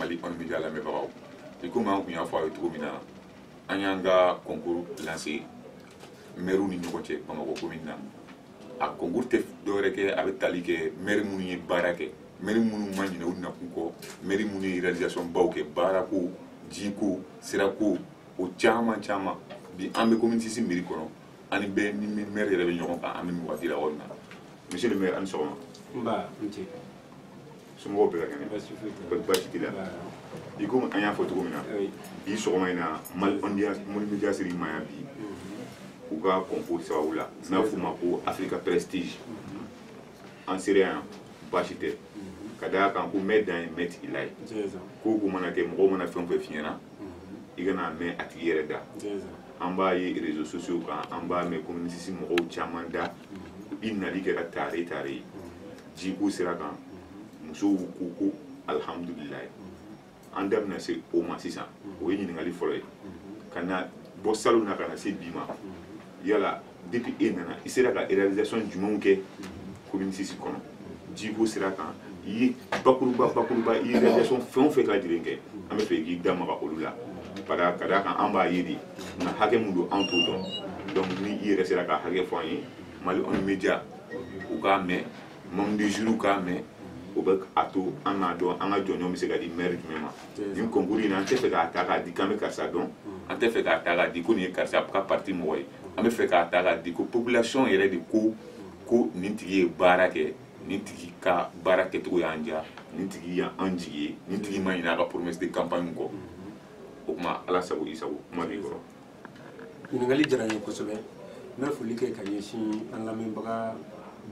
mali kɔni média lamɛnbagaw i komi an tun y'a fɔ a ye cogo min na an y'an ka concours lancer mɛriw ni ɲɔgɔn cɛ bamakɔ commune na a concours tɛ dɔwɛrɛ kɛ a bɛ tali kɛ mɛri minnu ye baara kɛ mɛri minnu ma ɲinɛ u nakun kɔ mɛri minnu ye réalisation baw kɛ baarako jiko sirako o caman caman bi an bɛ commune six mairie kɔnɔ ani bɛɛ ni ni mɛri yɛrɛ bɛ ɲɔgɔn kan an bɛ nin waati la yɔrɔ min na monsieur le maire a ni sɔgɔma nba n ce somɔgɔw bɛɛ ka kɛnɛ baasi baasi t'i la i komi an y'a fɔ cogo min na bi sɔgɔma in na mali media ser'i ma yan bi u ka concours sababu la n'a f'u ma ko africa prestige an sera yan baasi tɛ ka da a kan ko mɛn dan ye mɛn tigi la ye ko ko mana kɛ mɔgɔw mana fɛn o fɛn f'i ɲɛ na i ka n'a mɛn a tigi yɛrɛ da an b'a ye réseaux sociaux kan an b'a mɛn commune six mɔgɔw caman da i nali kɛra tare tare ye jiko sira kan musow ko ko alihamudulilayi an da bɛna se o ma sisan o ye ɲininkali fɔlɔ ye ka na bɔ salon na ka na se bi ma yala depuis e nana i sera ka réalisation jumɛnw kɛ commune six kɔnɔ jiko sira kan i ye bakuruba bakuruba i ye réalisation fɛn o fɛn ka lajɛlen kɛ an bɛ fɛ k'i da maga olu la ka d'a kan an b'a ye de nka hakɛ min don an t'o dɔn donc ni i yɛrɛ sera k'a hakɛ fɔ an ye mali on média u k'a mɛn membres de jury k'a mɛn o bɛ a to an k'a dɔn an ka jɔnjɔn bɛ se ka di mɛri jumɛn ma nin concours in na an tɛ fɛ k'a ta k'a di k'an bɛ karisa dɔn an tɛ fɛ k'a ta k'a di ko nin ye karisa ka parti mɔgɔ ye an bɛ fɛ k'a ta k'a di ko population yɛrɛ de ko ko nin tigi ye baara kɛ nin tigi ka baara kɛcogo y'an diya nin tigi y'an jigi ye nin tigi ma ɲinɛ a ka promesse de campagne kɔ o tuma ala sago i sago kuma b'i kɔrɔ ɲininkali diyara n ye kosɛbɛ n bɛ foli kɛ ka ɲɛsin an lamɛnbaga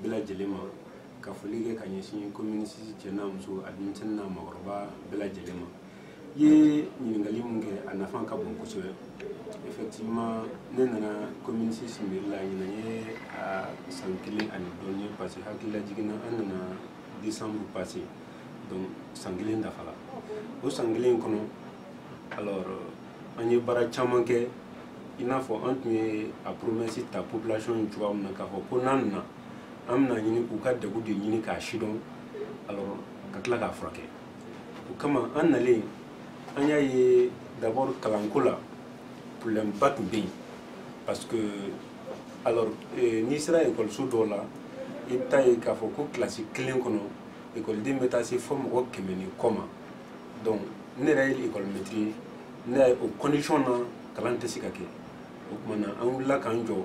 bɛɛ lajɛlen ma ka foli kɛ ka ɲɛsin commune six cɛ n'a muso a denmisɛnnin n'a mɔgɔkɔrɔba bɛɛ lajɛlen ma i ye ɲininkali min kɛ a nafa ka bon kosɛbɛ effectivement ne nana commune six mairie la ɲinan ye a san kelen ani dɔɔni ye parce que hakililajigin na an nana décembre passé donc san kelen dafala o san kelen kɔnɔ alors euh, an ye baara caman kɛ i n'a fɔ an tun ye a promesse ta population ye cogoya min na k'a fɔ ko n'an nana an bɛna ɲini k'u ka degun de ɲini k'a sidɔn alors ka tila k'a furakɛ o kama an nalen an y'a ye d'abord kalanko la problème ba tun bɛ yen parce que alors eh, n'i sera ekɔliso dɔw la i bɛ t'a ye k'a fɔ ko kilasi kelen kɔnɔ ekɔliden bɛ taa se fɔ mɔgɔ kɛmɛ ni kɔ ma donc ne yɛrɛ ye école maître ye ne y'a ye o condition na kalan tɛ se ka kɛ o tuma na an wulila k'an jɔ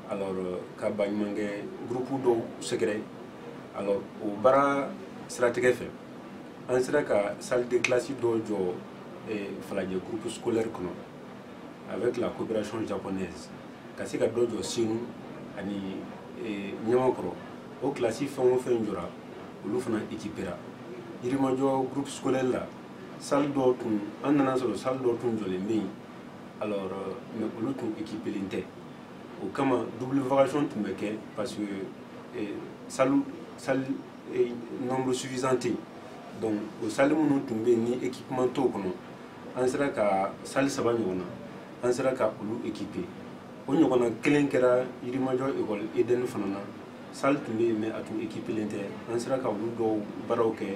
alors euh, ka baɲumankɛ groupe dɔw sɛgɛrɛ alors o baara siratigɛ fɛ an sera ka salle de classe dɔ jɔ eh, falajɛ groupe scolaire kɔnɔ avec la coopération japonaise ka se ka dɔ jɔ senu ani eh, ɲamakɔrɔ o kilasi fɛn o fɛn jɔra olu fana ekipera yirimajɔ groupe scolaire la salle dɔw tun an nana sɔrɔ salle dɔw tun jɔlen bɛ yen alors euh, mais olu tun ekipelen tɛ o kama double vacation tun bɛ kɛ parce que eh, salle salle eh, nombre suffisant tɛ yen donc o salle minnu tun bɛ yen ni équipement t'o kɔnɔ an sera ka salle saba ɲɔgɔn na an sera ka olu équiper o ɲɔgɔnna kelen kɛra yirimajɔ école eden fana na salle tun bɛ yen mais a tun ekipelen tɛ an sera ka olu dɔw baaraw kɛ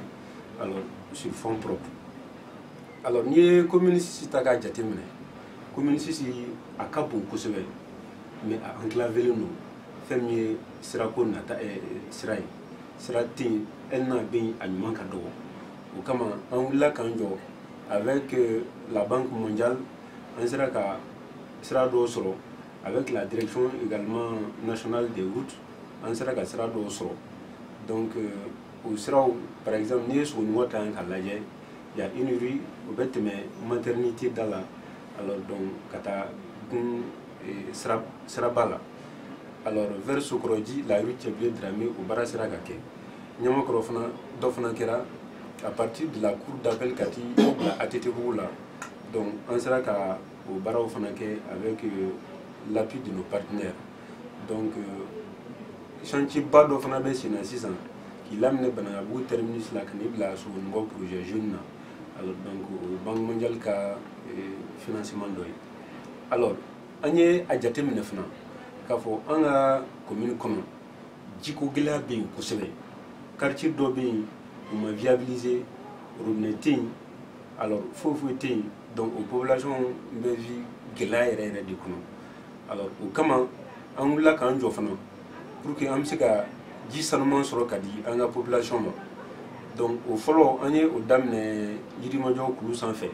alors sur fonds propres alors n'i ye commune six ta k'a jateminɛ commune six a ka bon kosɛbɛ mais a enclavelen don fɛn min ye sirako n'a ta eh, sira ye sira tɛ yen hali n'a bɛ yen a ɲuman ka dɔgɔ o kama an wulila k'an jɔ avec euh, la banque mondiale an sera ka sira dɔw sɔrɔ avec la direction également nationale des routes an sera ka sira dɔw sɔrɔ donc euh, o siraw par exemple n'i ye sogoninkɔ ta yan k'a lajɛ y a une rue o bɛ tɛmɛ maternité da la alors donc ka taa gun euh, siraba la alors vers sokɔrɔji la rue cɛbilen dramé o baara sera ka kɛ ɲamakɔrɔ fana dɔ fana kɛra à partir de la cour d'appel ka t'i bila ATT bugu la donc an sera ka o baaraw fana kɛ avec euh, l'appui de nos partenaires donc euh, chantier ba dɔ fana bɛ senna sisan k'i daminɛ banankabugu terminus la ka n'i bila sogoninkɔ projet jeune na alors donc o ye banque mondiale ka euh, financement dɔ ye alors an ye a jateminɛ fana k'a fɔ an ka commune kɔnɔ jiko gɛlɛya bɛ yen kosɛbɛ quartier dɔ bɛ yen u ma viabiliser robinet tɛ yen alors foyi foyi tɛ yen donc o population bɛ vi gɛlɛya yɛrɛ yɛrɛ de kɔnɔ alors o kama an wulila k'an jɔ fana pour que an bɛ se ka ji sanuman sɔrɔ ka di an ka population ma donc o fɔlɔ an ye o daminɛ yirimajɔ kulu sanfɛ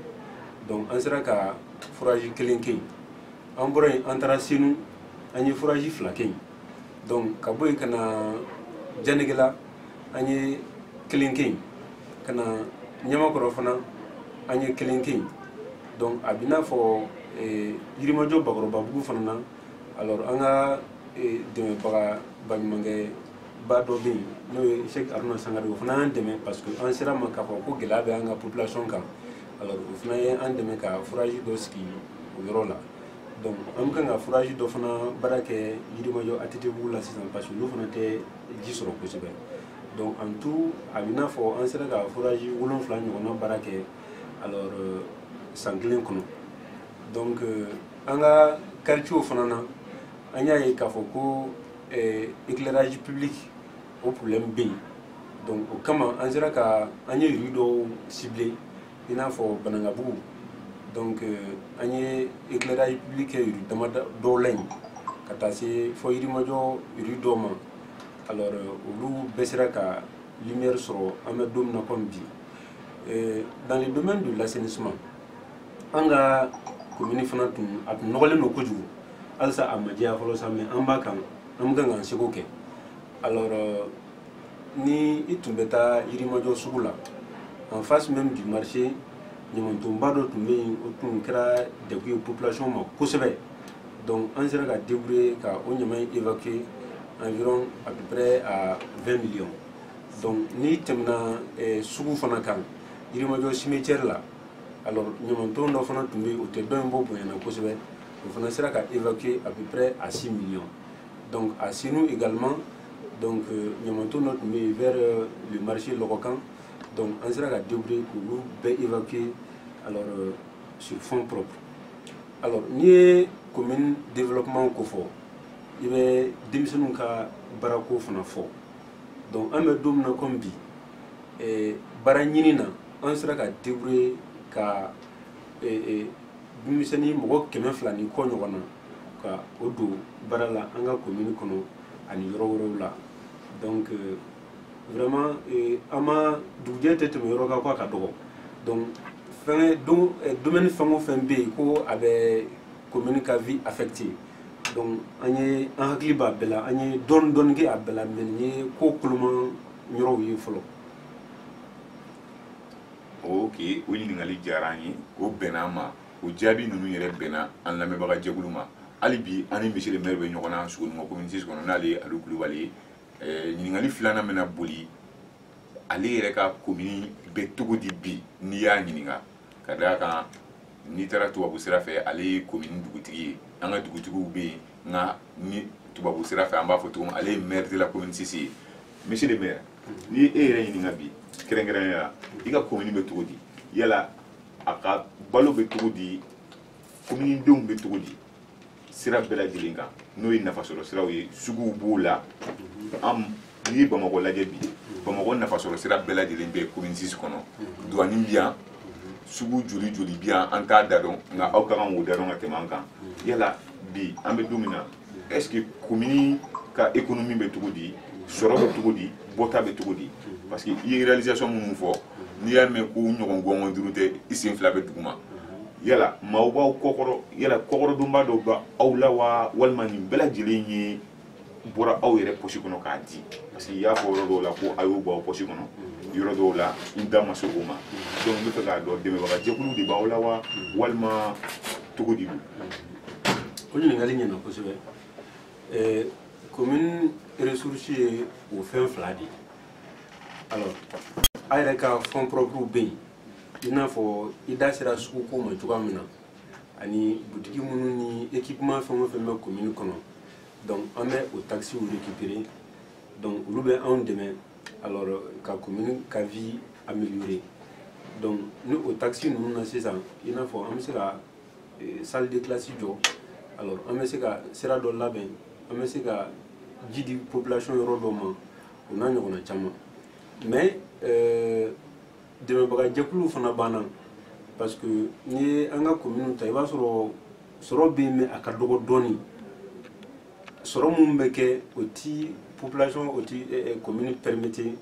donc an sera ka forage kelen kɛ yen an bɔra yen an taara senu an ye forage fila kɛ yen donc ka bɔ yen ka na janegela an ye kelen kɛ yen ka na ɲamakɔrɔ fana an ye kelen kɛ yen donc a b'i n'a fɔ eh, yirimajɔ bakɔrɔbabugu fana na alors an ka eh, dɛmɛbaga baɲumankɛ ba dɔ bɛ yen n'o ye sɛki aruna sankare o fana y'an dɛmɛ parce que an sera ma k'a fɔ ko gɛlɛya bɛ an ka population kan alors o fana ye an dɛmɛ ka forage dɔ sigi o yɔrɔ la donc an bɛ kan ka forage dɔ fana baara kɛ yirimajɔ atiti bugu la sisan parce que olu fana tɛ ji sɔrɔ kosɛbɛ donc en tout a bɛ n'a fɔ an sera ka forage wolonfila ɲɔgɔnna baara kɛ alors euh, san kelen kɔnɔ donc euh, an ka quartiew fana na an y'a ye k'a fɔ ko euh, éclairage public o problème bɛ yen donc o kama an sera ka an ye rue dɔw cibler i n'a fɔ banankabugu donc euh, an ye éclairage public kɛ rue dama dɔw la yen ka taa se fɔ yirimajɔ rue dɔw ma alors euh, olu bɛɛ sera ka lumière sɔrɔ an bɛ don min na comme bi euh, dans le domaine de l'assainissement an ka commune fana tun a tun nɔgɔlen don kojugu halisa a ma jɛya fɔlɔ sa mais an b'a kan an bɛ kan k'an seko kɛ alors ni i tun bɛ taa yirimajɔ sugu la en face même du marché ɲamantonba dɔ tun bɛ yen o tun kɛra degun ye population ma kosɛbɛ donc an sera ka débrouiller ka o ɲama in évacuer environ à peu près à 20 millions donc n'i tɛmɛna eh, sugu fana kan yirimajɔ cimetière la alors ɲamanton dɔ fana tun bɛ yen o tɛ dɔ in bɔ bonya na kosɛbɛ o fana sera ka évacuer à peu près à 6 millions donc à Senou également donc euh, ɲamanton dɔ tun bɛ yen vers euh, le marché lɔgɔ kan donc an sera ka débrouiller k'olu bɛɛ évacuer alors euh, sur fonds propres alors n'i ye commune développement ko fɔ i bɛ denmisɛnninw ka baarako fana fɔ donc an bɛ don min na comme bi eh, baara ɲini na an sera ka débrouiller ka eh, eh, denmisɛnnin mɔgɔ kɛmɛ fila ni kɔ ɲɔgɔn na ka o don baara la an ka commune kɔnɔ ani yɔrɔ wɛrɛw la donc euh, vraiment euh, an ma dugujɛ tɛ tɛmɛ yɔrɔ kan ko a ka dɔgɔ donc fɛngɛ don euh, domaine fɛn o fɛn bɛ yen ko a bɛ commune ka vie affecter donc an ye an hakili b'a bɛɛ la an ye dɔɔni dɔɔni kɛ a bɛɛ la mais nin ye ko koloman yɔrɔw ye fɔlɔ ok o ɲininkali diyara an ye o bɛnna an ma o jaabi ninnu yɛrɛ bɛnna an lamɛnbaga jɛkulu ma hali bi an ni monsieur le maire bɛ ɲɔgɔn na sogoniko commune six kɔnɔ n'ale ye alu kulubali ye eh, ɲininkali filanan bɛna boli ale yɛrɛ ka komini bɛ cogo di bi n'i y'a ɲininka ka d'a kan n'i taara tubabu sira fɛ ale ye komini dugutigi ye an ka dugutigiw bɛ yen nka ni tubabu sira fɛ an b'a fɔ cogo min ale ye maire de la commune six ye monsieur le maire n'i ye e yɛrɛ ɲininka bi kɛrɛnkɛrɛnnenya la i ka komini bɛ cogo di yala a ka balo bɛ cogo di kominidenw bɛ cogo di sira bɛɛ lajɛlen kan n'o ye nafasɔrɔ siraw ye suguw b'o la an n'i ye bamakɔ lajɛ bi bamakɔ nafasɔrɔ sira bɛɛ lajɛlen bɛ komini sisi kɔnɔ duwani bi yan sugu joli joli bi yan an t'a da dɔn nka aw ka kan k'o da dɔn ka tɛmɛ an kan yala bi an bɛ don min na est ce que commune ka économie bɛ cogo di sɔrɔ bɛ cogo di bɔta bɛ cogo di parce que i ye réalisation minnu fɔ n'i y'a mɛn ko ɲɔgɔn gɔngɔn duuru tɛ i sen fila bɛ duguma yala maaw b'aw kɔkɔrɔ yala kɔkɔrɔdonba dɔ bɛ aw la wa walima nin bɛɛ lajɛlen ye bɔra aw yɛrɛ posi kɔnɔ k'a di parce que i y'a fɔ yɔrɔ dɔw la ko aw y'o bɔ aw posi kɔnɔ yɔrɔ dɔw la n da ma se o ma donc n bɛ fɛ k'a dɔn dɛmɛbaga jɛkulu de b'aw la wa walima cogo di don o ɲininkali ɲɛna kosɛbɛ eh, commune ressource ye o fɛn fila de ye alors a yɛrɛ ka fond propre bɛ yen i n'a fɔ i da sera suguko ma cogoya min na ani butigi minnu ni équipement fɛn o fɛn bɛ commune kɔnɔ donc an bɛ o taxes récupérer donc olu bɛ anw dɛmɛ alors ka commune ka vie améliorer donc ni o taxes ninnu na sisan i n'a fɔ an bɛ se ka eh, salle de classe jɔ alors an bɛ se ka sira dɔ labɛn an bɛ se ka ji di population yɔrɔ dɔ ma o n'a ɲɔgɔnna caman mais eh, dɛmɛbaga jɛkuluw fana b'an na parce que n'i ye an ka kominiw ta i b'a sɔrɔ sɔrɔ bɛ yen mais a ka dɔgɔ dɔɔni sɔrɔ minnu bɛ kɛ o ti population o ti komini eh, eh, permettre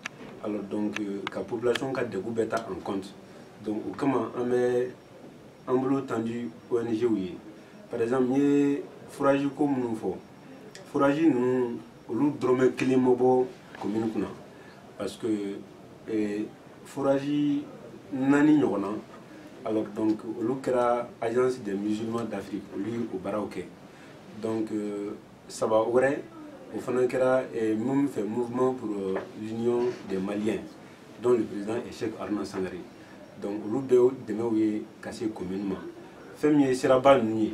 alors donc euh, ka population ka degun bɛɛ ta en compte donc o kama an bɛ an bolo tandi ONGw ye par exemple n ye forage ko minnu fɔ forage ninnu olu dɔrɔmɛ kelen ma bɔ commune kun na parce que eh, forage naani ɲɔgɔn na alors donc olu kɛra agence des musulmans d'afrique olu ye o baaraw kɛ donc euh, saba wɛrɛ o fana kɛra eh, minnu fɛ mouvement pour euh, l'union des maliens dont le président est Cheikh Harouna Sankaré donc olu bɛɛ dɛmɛw ye ka se commune ma fɛn min ye siraba ninnu ye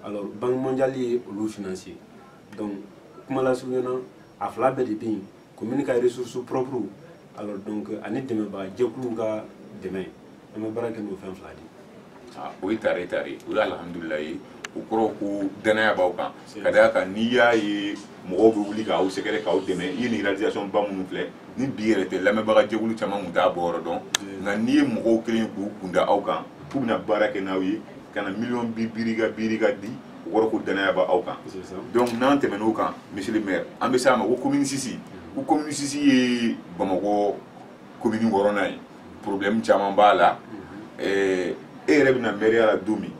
alors banque mondiale ye olu financer donc kuma lasurunya na a fila bɛɛ de bɛ yen commune ka ressources propres alors donc ani dɛmɛbaga jɛkuluw ka dɛmɛ an bɛ baara kɛ n'o fɛn fila de ye Ah, o ye tare tare ye o ye alihamudulila ye o kɔrɔ ko danaya b'aw kan ka d'a kan n'i y'a ye mɔgɔw bɛ wuli k'aw sɛgɛrɛ k'aw dɛmɛ i ye nin réalisation ba minnu filɛ ni bi yɛrɛ tɛ lamɛnbaga jɛkulu caman tun t'a bɔ yɔrɔ dɔn nka n'i ye mɔgɔw kɛlen ye k'u kun da aw kan k'u bɛna baara kɛ n'aw ye ka na miliyɔn bi biiri ka biiri ka di o kɔrɔ ko danaya b'aw kan C'est ça. donc n'an tɛmɛn'o kan monsieur le maire an bɛ s'a ma ko commune 6 ko commune 6 ye bamakɔ komini wɔɔrɔnan ye problème caman b'a la e yɛrɛ bɛ na mɛriya la don min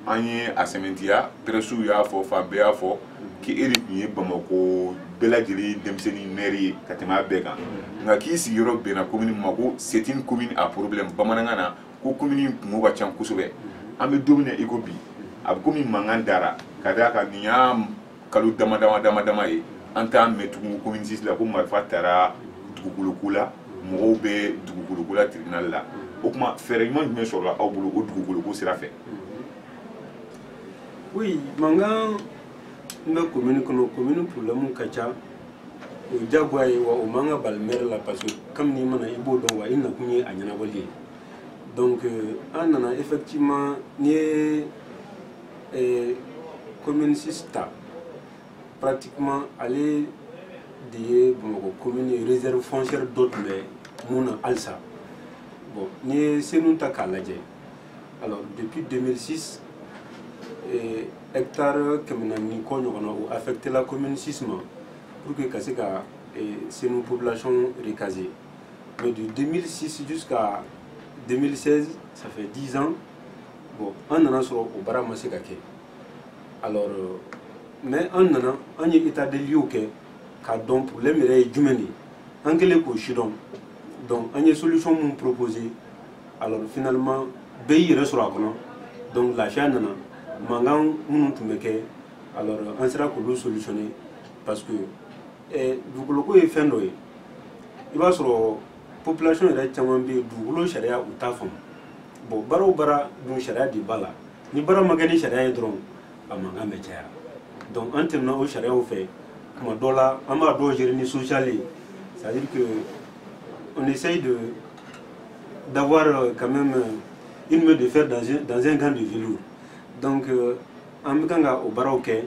an ye a sɛmɛntiya pɛrɛsiw y'a fɔ fan bɛɛ y'a fɔ k'i e de tun ye bamako bɛɛ lajɛlen denmisɛnnin mɛri ye ka tɛmɛ a bɛɛ kan nka k'i sigiyɔrɔ bɛnna komini ma ko c'est une commune à problème bamanankan na ko komini kunko ka ca kosɛbɛ an bɛ don min na i ko bi a bɛ komi mankan dara ka d'a kan nin y'a kalo dama dama dama dama ye an t'a mɛn tugun commune 6 la ko marifa tara dugukoloko la mɔgɔw bɛ dugukoloko la tribunal la o tuma fɛɛrɛ ɲuman jumɛn sɔrɔla aw bolo o dugukoloko sira fɛ oui mankan min bɛ commune kɔnɔ commune problème ka ca o ye diyagoya ye wa o man ka bala maire la parce que kabini i ma na i b'o dɔn wa i nakun ye a ɲɛnabɔli ye donc euh, an nana effectivement n'i ye ee commune 6 ta pratiquement ale de ye bamakɔ commune ye réserve foncière dɔ tun bɛ min na halisa bon n'i ye senu ta k'a lajɛ alors depuis 2006 eh, hectare kɛmɛ naani ni kɔ ɲɔgɔnna o affecté la commune 6 ma pour que ka se ka eh, senu population recaser mais de 2006 jusqu'à 2016 ça fait 10 ans bon an nana sɔrɔ o baara ma se ka kɛ alors euh, mais an nana an ye état des lieux kɛ k'a dɔn problème yɛrɛ ye jumɛn de ye an kɛlen k'o sidɔn donc an ye solution minnu proposer alors finalement bɛɛ y'i yɛrɛ sɔrɔ a kɔnɔ donc lafiya nana mankan minnu tun bɛ kɛ alors an sera k'olu solutionner parce que eh, dugukoloko ye fɛn dɔ ye i b'a sɔrɔ population yɛrɛ caman bɛ yen dugukolo sariya u t'a faamu bon baara o baara dun sariya de b'a la ni baara ma kɛ ni sariya ye dɔrɔn a mankan bɛ caya donc an tɛmɛna o sariyaw fɛ tuma dɔ la an b'a dɔw gérer ni social ye c'est à dire que on essaye de d'avoir euh, quand même euh, une main de fer dans un, dans un gant de velours donc euh, an bɛ kan ka o baaraw kɛ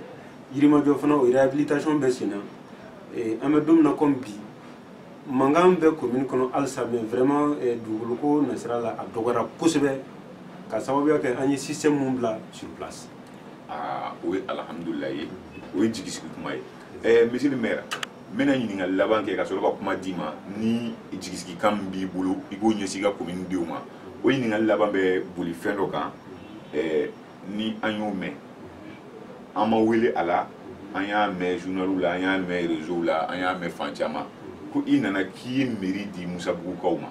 yirimajɔ fana o réhabilitation bɛ sen na an bɛ don min na comme bi mankan bɛ commune kɔnɔ halisa mais vraiment eh, dugukolo ko nasira la a dɔgɔyara kosɛbɛ ka sababuya kɛ an ye système mun bila sur place aa o ye alhamdulila ye o ye jigisigi kuma ye eh, monsieur le maire n bɛna ɲininkali laban kɛ ka sɔrɔ ka kuma d'i ma ni jigisigikan min b'i bolo i b'o ɲɛsin i ka commune denw ma o ɲininkali laban bɛ boli fɛn dɔ kan eh, ni an y'o mɛn an ma wele a la an y'a mɛn journaliw la an y'a mɛn réseau la an y'a mɛn fan caman ko i nana k'i ye mairie di misabugukaw ma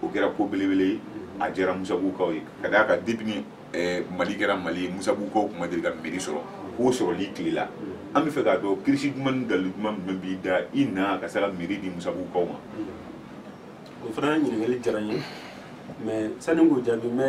o kɛra ko belebele ye a diyara misabugukaw ye ka d'a kan depuis ni eh, mali kɛra mali ye misabugukaw tun ma deli ka mairie sɔrɔ k'o sɔrɔ i tile la an bɛ fɛ k'a dɔn kirisi duman ni dali duman min b'i da i na ka se ka mairie di misabugukaw ma o fana ɲininkali diyara n ye mais sani k'o jaabi n bɛ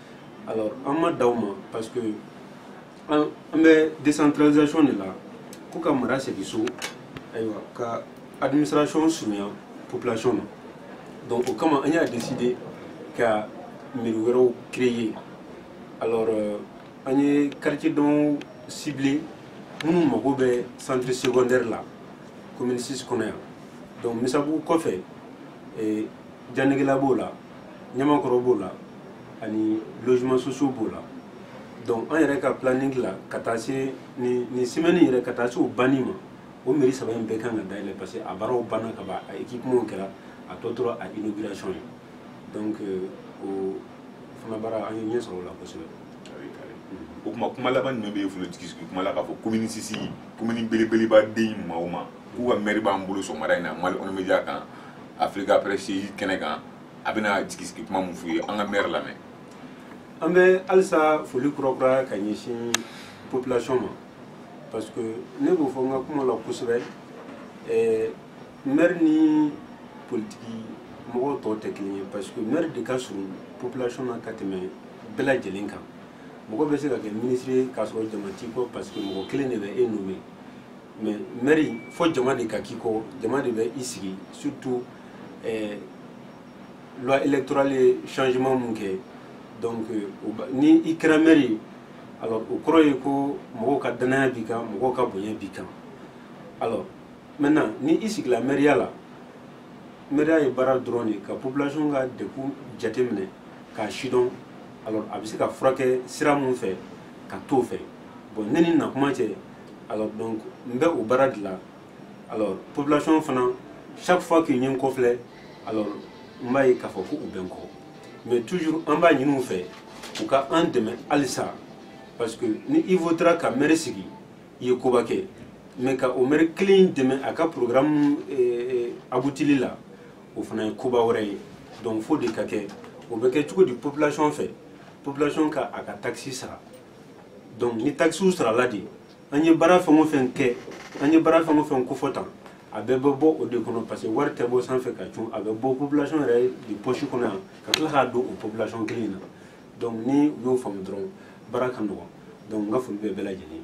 alors an m'a d'aw ma parce que an bɛ décentralisation de la ko ka mara segin so ayiwa ka administration surunya population na donc o kama an y'a décider ka mairie wɛrɛw créer alors euh, an ye quartier dɔw cibler minnu mago bɛ centre secondaire la commune 6 kɔnɔ yan donc misabugu kɔfɛ eh, janegela b'o la ɲamakɔrɔ b'o la ani logements sociaux b'o la donc an yɛrɛ ka planning la ka taa se nin semaine yɛrɛ ka taa se o banni ma o mairie saba in bɛɛ kan ka dayɛlɛ parce que a baaraw banna ka ban a équipementw kɛra a tɔ tora a inauguration ye donc euh, o fana baara an ye ɲɛ sɔrɔ o la kosɛbɛ o tuma kuma laban jumɛn bɛ e bolo jigi sigi kuma la k'a fɔ commune 6 commune belebeleba den maa o maa k'u ka maire b'an bolo sɔgɔmada in na mali kɔnɔ media kan afrique presse kɛnɛ kan a bɛna jigisigi kuma min f'u ye an ka mɛri lamɛn an bɛ halisa foli kurakura ka ɲɛsin population ma parce que ne b'o fɔ n ka kuma la kosɛbɛ eh, mɛri ni politiki mɔgɔw tɔw tɛ kelen ye parce que mɛri de ka surun population na ka tɛmɛ bɛɛ lajɛlen kan mɔgɔ bɛ se ka kɛ minisiri ye k'a sɔrɔ jama t'i kɔ parce que mɔgɔ kelen de bɛ e nommer mais mɛri fo jama de ka k'i kɔ jama de bɛ i sigi surtout eh, loi électorale ye changement mun kɛ donc euh, ni i kɛra mɛri ye alors o kɔrɔ ye ko mɔgɔw ka dannaya b'i kan mɔgɔw ka bonya b'i kan alors maintenant ni i sigila mɛriya la mɛriya ye baara dɔrɔn de ka population ka degun jateminɛ k'a sidɔn alors a bɛ se ka furakɛ sira mun fɛ ka t'o fɛ bon ne ni nakuma cɛ alors donc n bɛ o baara de la alors population fana chaque fois que n ye n kɔ filɛ alors n b'a ye k'a fɔ ko u bɛ n kɔ mais toujours an b'a ɲini u fɛ u ka an dɛmɛ halisa parce que ni i votera ka mɛri sigi i ye koba kɛ mais ka o mɛri kelen in dɛmɛ a ka programme eh, abutili la o fana ye koba wɛrɛ ye donc fo o de ka kɛ o bɛ kɛ cogo di population fɛ population ka a ka takisi sara donc ni takisiw sarala de an ye baara fɛn o fɛn kɛ an ye baara fɛn o fɛn kofɔ tan a bɛɛ bɛ bɔ o de kɔnɔ parce que wari tɛ bɔ sanfɛ ka cun a bɛ bɔ population yɛrɛ de poche kɔnɔ yan ka tila k'a don o population kelen in na donc ni u y'o faamu dɔrɔn baara ka nɔgɔn donc n ka foli bɛ bɛɛ lajɛlen ye